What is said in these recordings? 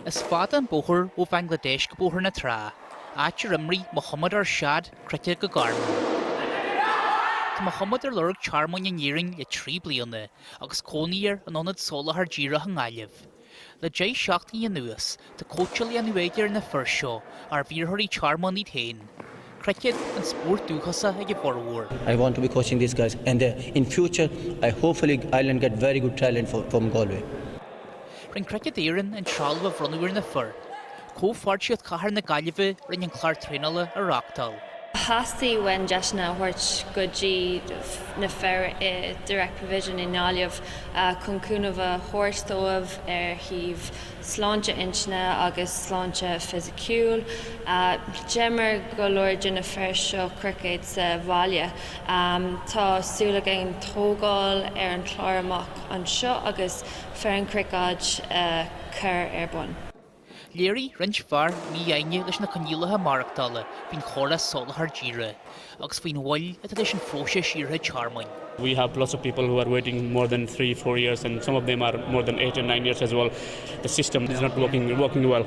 Is fada an bóthar ó Bhanglaidéis go Bóthar na Trá, áit ar imir Mohammad Arshad cruicéad go gairmiúil. Tá Mohammad ar lorg tearmainn in Éirinn le trí bliana agus cónaí air in ionad soláthar díreach i nGaillimh. Le deich seachtaine anuas, tá cóitseáil á déanamh aige ar na fir seo, arbh iarrthóirí tearmainn iad féin. cruicéad an spórt dúchasach ag a bhformhór. I want to be coaching these guys and in future I hopefully Ireland get very good talent for from Galway. Rinne Cruicéad Éireann an trealamh a bhronnadh ar na fir. Comhpháirtíocht Chathair na Gaillimhe a rinne an clár traenála a reáchtáil. Theastaigh uainn deiseanna a thabhairt go dtí na fir i Direct Provision i nGaillimh chun cúnamh a thabhairt dóibh ar thaobh sláinte intinne agus sláinte fisiciúil. D'imir go leor de na fir seo cruicéad sa bhaile. Tá súil againn tógáil ar an chlár amach anseo agus foireann chruicéid a chur ar bun. Léirigh roinnt fear mífhoighne leis na coinníollacha maireachtála faoin chóras soláthar díreach. agus faoin mhoill atá leis an phróiseas iarrtha tearmainn. we have lots of people who are waiting more than three four years and some of them are more than eight and nine years as well the system is not working working well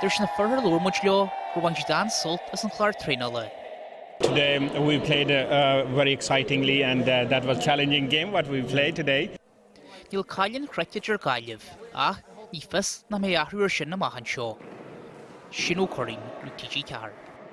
Dar leis na fir ar labhair muid leo gur bhain siad an-sult as an chlár traenála. Today we played uh, very excitingly and uh, that was challenging game what we played today. Níl cáil an chruicéid ar Ghaillimh, ach ní fios nach mbeidh athrú ar sin amach anseo. Shane Ó Curraighín, Nuacht TG4.